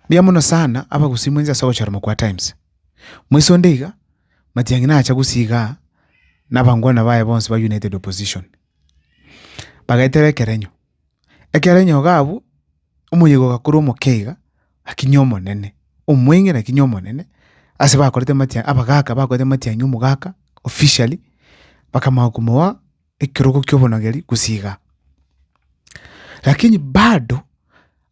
Mbuya mono sana abagusii mwensi ase ogochora Mokwaatimes. Moise onde iga, Matiang'i nacha gusii igaa na abangwana baye bonsi ba United Opposition. Bagaetera ekerenyo. Ekero enyoga abwo, omoyega ogakora omokeiga, akinya omonene, omweng'ina akinya omonene, ase bakorete amatia abagaka bakorete amatiang'i omogaka, officially, bakamanya komoa ekerogo kia obonogeri gose igaa. Lakini bado.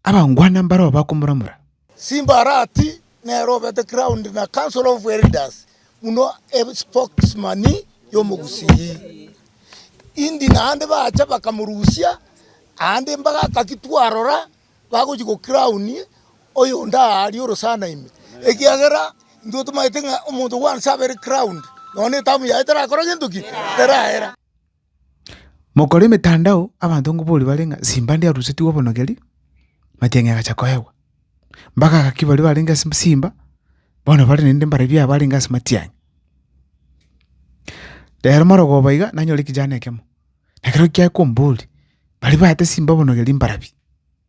Abangwana mbarao bakomoramora. Simba Arati nere obete ground na Council of Elders buna espokesman y'omogusii. Indi naende bacha bakamorusia aande mbagaka ki twarora bagochia go crown oyonde aaria orosana ime ekiagera intwe tomaete ng'a omonto once abere crowned nonya etamu yaye terakora gento ki? Teraera. Mokore emetandao abanto ngoboria bare ng'a simba ndiarusetigwe obonogeri, amacheng'e agacha koegwa. Mpaka gaki baria barenge ase simba, bono bare naende mbarabwo aba arenge ase matiang'i. Rero marogoba iga, nanyora ekejana ekemo, na ekero kiaye komboria, baria baete simba obonogeri mbarabwo.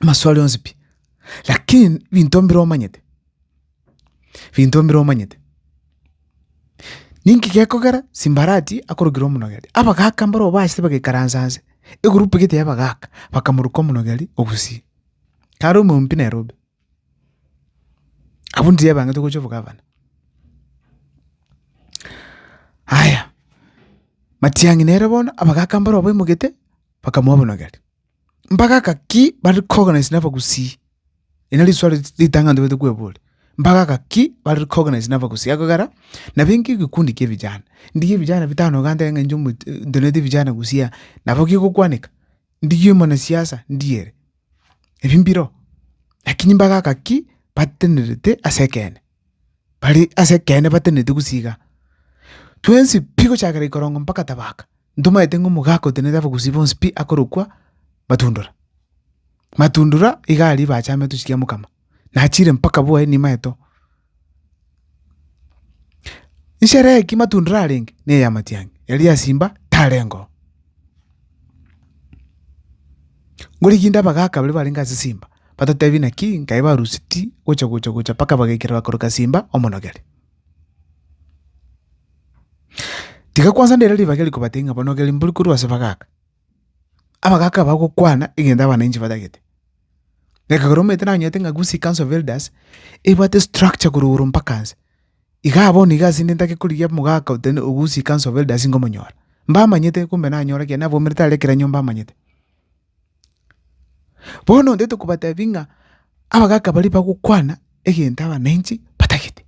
Amaswali onsi pi, lakini binto mbire omanyete, binto mbire omanyete. Ninki gekogera simbarati akorokire omonogeri? Abagaka mbaro obachete bagaikaransa nse, egroup egete ya abagaka bakamoruka omonogeri ogusii. Kare omoyio pi Nairobi, abwo ndiri abang'ete gochia obogavana. Haya, Matiang'i nere bono abagaka mbare obaimogete bakamoa obonogeri. Mbagaka ki bari koganise nabagusii? Eri nari riswali ritang'ani tobaete kweboria. Mbagaka ki bari koganise nabagusii? Ekogera, nabenge egekundi kia ebijana, ndigie ebijana bitano iga ntere ng'a inche ntenenete ebijana gusii, nabo kegokwaneka? Ndigie omwanasiasa ndie ere? Ebi mbiroo, lakini mbagaka ki batenerete ase ekeene? bare ase ekeene bateneneti gosiiga twensi pi gochakera ikorongo mpaka tabaka, ntomaete ng'a omogaka oteneneti abagusii bonsi pi akorokwa Matundura. Matundura iga aria bachamete gochia mokama, nachire mpaka bwoye nimaete oo. Nsherehe ki Matundura arenge, ne ya matiang'i, eria Simba tarengeo. Ngoriginde abagaaka baria barenge ase simba, batotebi naki nkaye baruseti gocha-gocha-gocha mpaka bagaikera bakoroka simba omonogere. Tiga kwansa ndere ribaga eri kobatebia ng'a banogeri mbori korwa ase bagaaka. Abagaaka bagokwana egento abananchi batagete. Ekero omanyete nanyete ng'a Gusii Council of Elders, ebwate structure korwa igoro mpaka nse. Iga abwo nigo ase inde ntake korigia omogaka ote ogusie Council of Elders ngomonyora. Mbamanyete kumbe nanyore ekiagera nabwaumerete are ekero mbamanyete. Bono onde tokobatebia ng'a abagaka baria bagokwana egento abananchi batagete.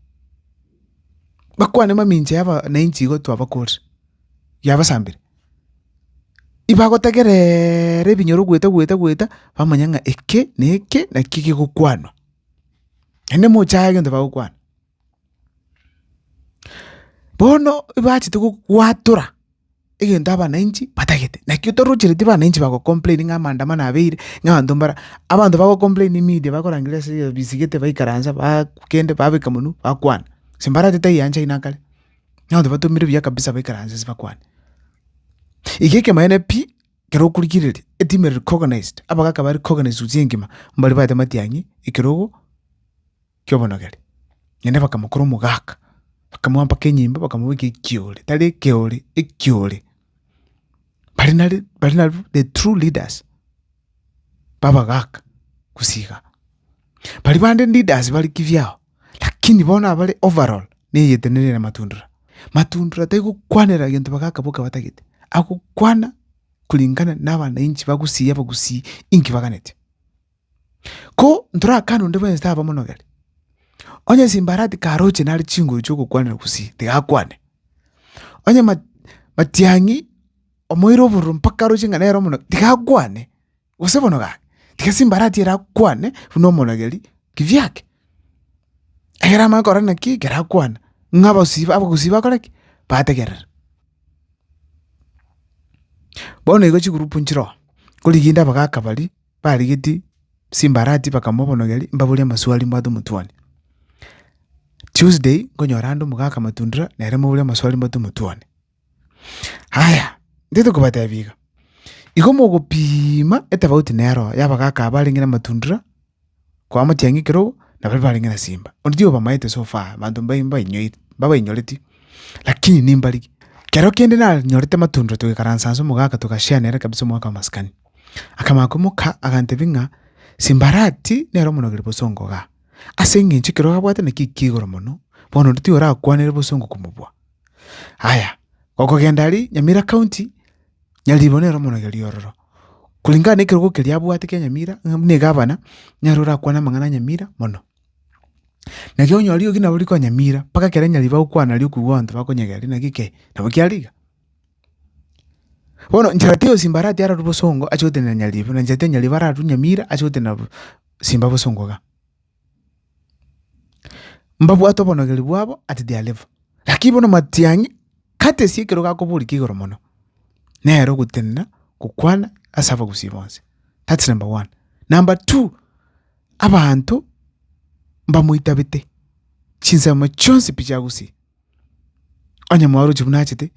Bakwane mamincha ya abananchi igo twabakorire, yabasambire. Ibagotegereeera ebinyoro goeta goeta goeta bamanye ng'a eke na eke naki kegokwanwa. Naende mocha aya egento bagokwana. Bono ebachete gokwatora egento abananchi batagete, naki otorochereti abananchi bago complain ng'a amaandamano abeire, ng'a abanto mbara, abanto bago complain media bakorangeria ase ebiya bisigete baikaransa baa kende babeka monwe bakwana, gose mbaratete aiga ancha aino akare, na abanto batomire buya kabisa baikaranse ase bakwane. Iga ekemanyeene pi, ekero okorigereria eteam ere recognized, abagaka bare recognized gose engima, mbaria baete matiang'i ekerogo. ki'obonogeri, naende bakamokora omogaka, bakamoa mpaka enyimbo, bakamobeka ekiore, tari ekeore, ekiore. Baria nari baria nari the true leaders ba abagaka gose igaa. Baria bande leaders bare kibyao, lakini bono abare overall na egetenenero ya Matundura. Matundura taigokwanera egento abagaka boka batagete, agokwana kulingana na abananchi bagusii abagusii inki baganeti. Ko ntorakane onde bwensi taba omonogeri. Onye simbarati karoche nare chinguru chi'ogokwanera gusii, tigakwane. Onye ma- matiang'i omoire obororo mpaka aroche ng'a nere omonogeri, tigakwane, gose bono gaki, tiga simbarati erakwane buna omonogeri kibyake. Ekero amanye korora naki ekero akwana, ng'a abasii ba abagusii bakore ki? Bategerere. Bono igo chigroup nchire oo, korigia inde abagaka baria. barigetie chimbarati bakamobonogeria mbabori amaswali mbwate omotwoni. Tuesday nkonyora ande omogaka Matundura nere mbabori amaswali mbwate omotwoni. Haya, ntete kobatebia iga, igo mogopiima etofauti nero ya abagaka aba barenge na Matundura kwa Amatiang'i ekero obo na baria barenge na Simba. Onde tiga obamaete so far, abanto mbayi mbainyoiri mbabainyoreti lakini nimbarigia. Ekero kende nanyorete Matundura togekaransa inse omogaka togashare nere kabisa omogaka wa masikani. Akamanya komoka, agantebia ng'a, Simbarati nere omonogeri bosongo igaa, ase engencho ekero abwate nakio ekiya igoro mono, bono onde tiyorakwanere bosongo komobua. Aya, okogenda aria Nyamira County, Nyaribo nere omonogeri ororo. Kulingana na ekerogo keria abwate kia Nyamira, ng'a buna egavana, nere orakwane amang'ana a Nyamira mono. Naki onye rirogi nabo rikoa Nyamira, mpaka ekero Nyaribo agokwana riria okoigwa abanto bakonyegena rirogi naki ki? Nabo kiare iga. Bono nchera tiosi mbarati ararwe bosongo ache gotenena nyariba, na nchera tiosi nyariba ararwe nyamira ache gotenena simba bosongo iga. Mbabwate obonogereru bwabo at their level, lakini bono matiang'i kata ase ekero gakoboria ekia igoro mono, nere ogotenena gokwana ase abagusii bonsi, that's number one. Number two, abanto mbamoitabete chinsemo chionsi pi chiagusii. Onye mwarochi buna achete,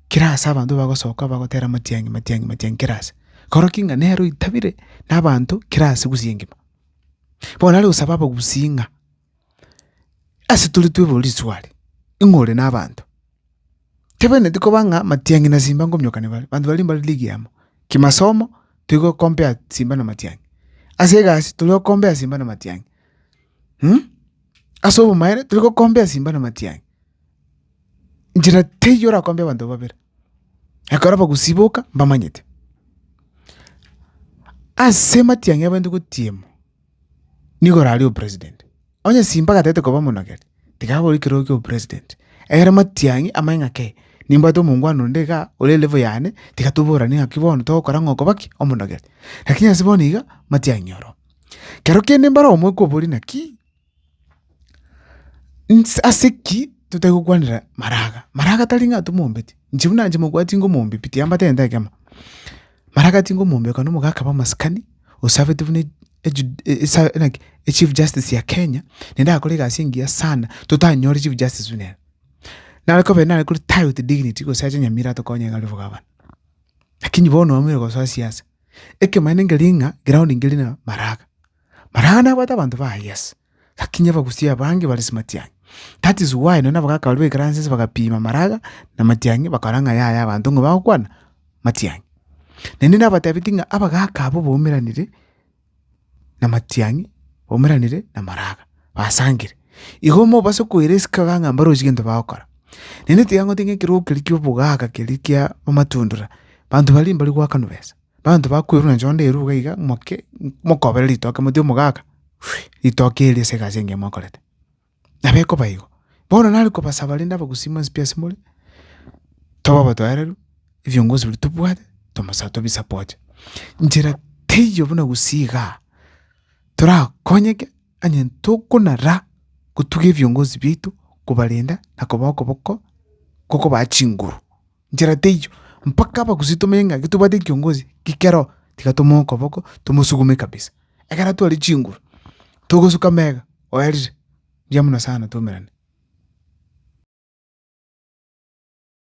kera ase abanto bagosoka bagotera matiang'i matiang'i matiang'i kera ase. Koro ki ng'a nere oitabire na abanto kera ase gusii engima. Bono nare gosaba abagusii ng'a ase tore twebori risuari, ing'o ore na abanto? Tebeneti koba ng'a matiang'i na simba nkomiokani bare, abanto baria mbare league amo. Kimasomo, tigo compare simba na matiang'i. Ase egasi, tori go compare simba na matiang'i. ase obomaere tori gokombea simba na matiang'i, nchera teiyo orakombie abanto babere, ekero abagusii boka mbamanyete. Ase amatiang'i abaito gotiema nigo orarie opresident, onye simba gatagete koba omonogeri, tiga abore ekerogo kia opresident, egere matiang'i amanye ng'ake nimbwate omongwana onde igaa ore level yane, tiga toborane ng'aki bono togokora ng'a okoba ki? Omonogeri. Lakini ase bono iga, matiang'i oro. Kero kende mbare omoika oborie naki nse ase ki totari gokwanera maraga. Maraga tari ng'a tomombeti, inche buna inche mogwera tingomombi pi tiambateneete ekemo. Maraga tingomombi okona omoka akaba omasikani osaveti buna ejudi esa naki echief justice ya Kenya, naende agakora egasi engiya sana totanyore chief justice buna ere. Naro kobe nare kore tie with dignity gose ache nyamira atokonye ng'a ore bogavana. Lakini bono oamire gosoa siasa. Ekemanyererio nkeria ng'a egeroundi nkeria na Maraga. Maraga nabwate abanto baye yes, lakini abagusia abange bare ase matiang'i. That is why nonya na abagaka baria ba ekeransi ase bagapima Maraga na matiang'i bakarora ng'a yaya abanto ng'a bagokwana matiang'i. Naende nabatebitie ng'a abagaka abwo baumeranire, na amatiang'i, baumeranire na amaraga, basangire. Igo mobase koira esike iga ng'a mbarosie gento bagokora. Naende tiga ngote ng'a ekerogo keria kia obogaaka keria kia amatundura, banto baria mbari goakanwa besa, banto bakwerwa na nchondo erwe iga iga moke mokobere ritoke mote omogaaka, ritoke erio ase egasi engiya mwakorete. Nabo ekoba igo. Bono nare kobasaba rende abagusii mwensi pi asemore, tobe abateareru, ebiongozi biria tobwate, tomosa tobisapote. Nchera teiyo buna gusii igaa, torakonyeke onye tokonara gotuga ebiongozi biaito, kobarenda na kobaa okoboko, gokobaa chinguru. nchera teiyo, mpaka abagusii tomenye ng'a getobwate ekiongozi ki keroho, tiga tomoe okoboko tomosugume kabisa. Ekero atware chinguru, togosuka mega, oyarire, mbuya mono sana twaumerane.